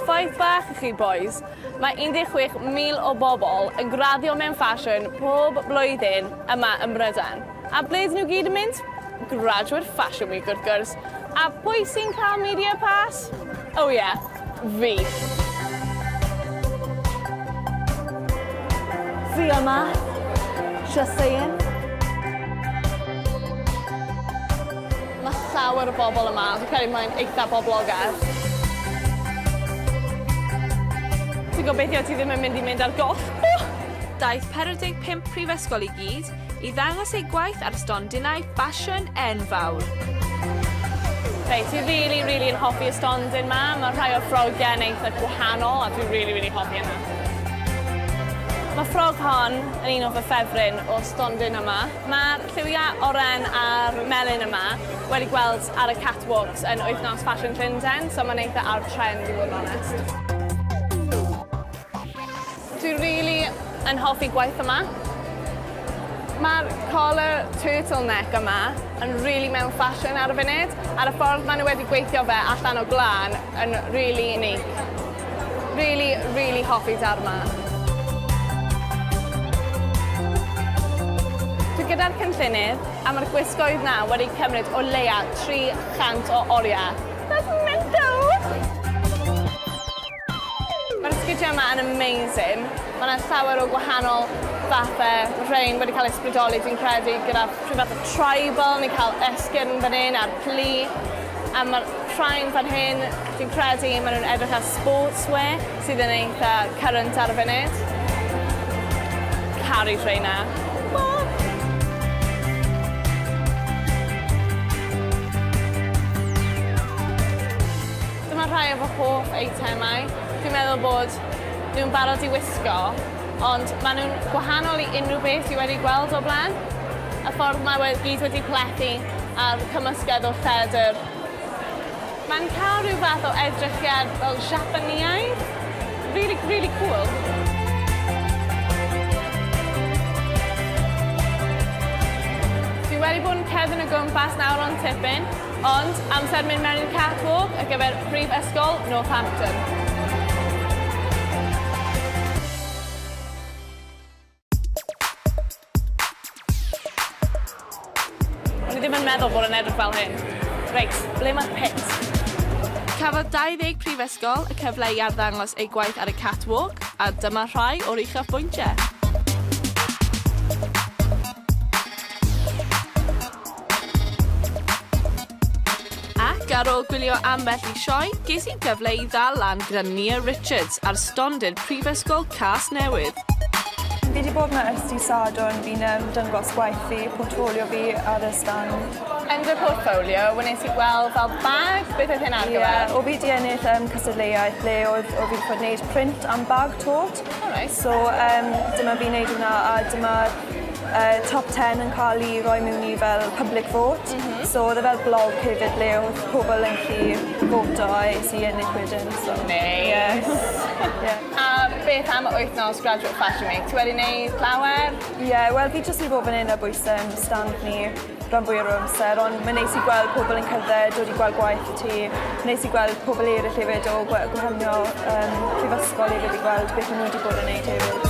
Ffaith bach i chi, bois, mae 16,000 o bobl yn graddio mewn ffasiwn pob blwyddyn yma ym Mrydain. A ble dyn nhw gyd yn mynd? Graduate Fashion Week, wrth gwrs. A pwy sy'n cael media pass? O oh, ie, yeah. Fi. Fi yma. Just saying. Mae llawer o bobl yma. Fi'n credu mae'n eitha boblogaidd. Ti'n gobeithio ti ddim yn mynd i mynd ar goll. Daeth 45 prifysgol i gyd i ddangos ei gwaith ar stondinau ffasiwn enfawr. Reit, fi really, really yn hoffi y stondin ma. Mae rhai o'r ffrogiau yn eitha gwahanol a dwi'n really, really hoffi yna. Mae ffrog hon yn un o fy ffefryn o stondin yma. Mae'r lliwiau oren a'r melyn yma wedi gweld ar y catwalks yn wythnos Fashion Llundain, so mae'n eitha ar trend i fod yn onest. Dwi rili yn hoffi gwaith yma. Mae'r collar turtleneck yma yn rili mewn ffasiwn ar y funud, a'r y ffordd maen nhw wedi gweithio fe allan o glân yn rili unique. Rili, rili hoffi darn ma. Dwi gyda'r cynllunydd a mae'r gwisgoedd na wedi cymryd o leia 300 o oriau. That's mental! Mae'r sgidiau yma yn amazing. Mae yna llawer o gwahanol fathau. Rhain wedi cael eu sbrydoli, dwi'n credu, gyda rhyw fath o tribal, ni'n cael esgyrn fan hyn a'r plu. A mae'r rhain fan hyn, dwi'n credu, maen nhw'n edrych ar sportswear sydd yn eitha current ar y funud. Caru rheina. Dyma rhai o fy hoff eitemau. Dwi'n meddwl bod nhw'n barod i wisgo, ond maen nhw'n gwahanol i unrhyw beth dwi wedi gweld o'r blaen. Y ffordd mae we- gyd wedi plethu a'r cymysgedd o ffedr. Mae'n cael rhyw fath o edrychiad fel Siapaneaidd. Rili, rili cŵl. Dwi wedi bod yn cerdded o gwmpas nawr ond tipyn. Ond, amser mynd mewn i'r catwalk ar gyfer Prifysgol Northampton. meddwl bod yn edrych fel hyn. Reit, ble mae'r pit? Cafodd 20 prifysgol y cyfle i arddangos eu gwaith ar y catwalk, a dyma rhai o'r uchaf bwyntiau. Ac ar ôl gwylio ambell i sioe, ges i gyfle i ddal lan gyda Nia Richards ar stondin Prifysgol Casnewydd. Fi wedi bod yma ers di Sadwrn, fi'n um, dyngos gwaith fi, portfolio fi ar y stan. Yn dy portfolio, wnes i gweld fel bag, beth oedd hyn ar gyfer? Yeah, o fi di ennill um, cystadleuaeth le oedd o fi wedi bod wneud print am bag tot, Alright. So um, dyma fi'n neud hwnna a dyma'r uh, top 10 yn cael ei roi mewn i fel public vote. Mm -hmm. So oedd e fel blog hefyd ble oedd pobl yn chi voto a es i ennill wedyn. So. Nice. Yes. yeah. A beth am wythnos Graduate Fashion Week? Ti wedi neud llawer? Ie, yeah, wel fi jyst wedi bod fan hyn a bwysau yn stand ni. rhan fwyaf o'r amser, ond mae'n neis i gweld pobl yn cerdded, dod i gweld gwaith y ti. Neis i gweld pobl eraill hefyd o gwahaniol um, prifysgol hefyd i gweld beth maen nhw wedi bod yn neud hefyd.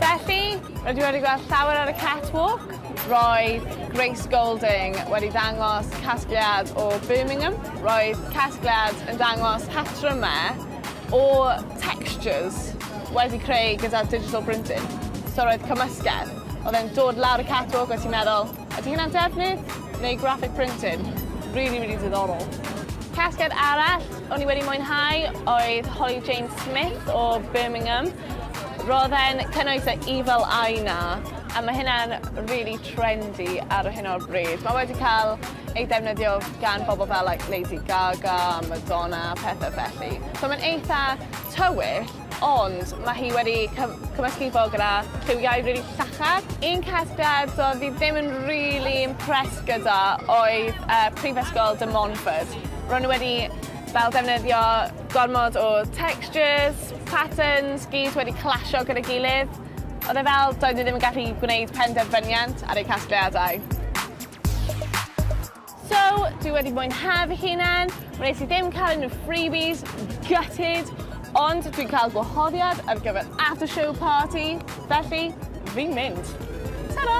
Felly, rydw i wedi gweld llawer ar y catwalk. Roedd Grace Golding wedi dangos casgliad o Birmingham. Roedd casgliad yn dangos patrymau o textures wedi creu gyda digital printing. So roedd cymysgedd. Oedd e'n dod lawr y catwalk a ti'n meddwl, ydy hynna'n defnydd neu graphic printing? Rili rili diddorol. Casgliad arall o'n i wedi mwynhau oedd Holly Jane Smith o Birmingham. Roedd e'n cynnwys y Evil Eye 'na a mae hynna'n rili trendy ar hyn o'r bryd. Mae wedi cael ei ddefnyddio gan bobl fel like Lady Gaga, Madonna, pethau felly. So mae'n eitha tywyll, ond mae hi wedi cymysgu fo gyda lliwiau rili really llachar. Un casgliad so fi ddim yn really impressed gyda oedd uh, Prifysgol de Montfort. Ro'n nhw wedi fel defnyddio gormod o textures, patterns, gyd wedi clasio gyda gilydd. Oedd e fel, doedd e ddim yn gallu gwneud penderfyniant ar ei casgliadau. So, dwi wedi mwynhau fy hunan, wnes i ddim cael unrhyw freebies, gutted, ond dwi'n cael gwahoddiad ar gyfer after show party, felly fi'n mynd. Tara!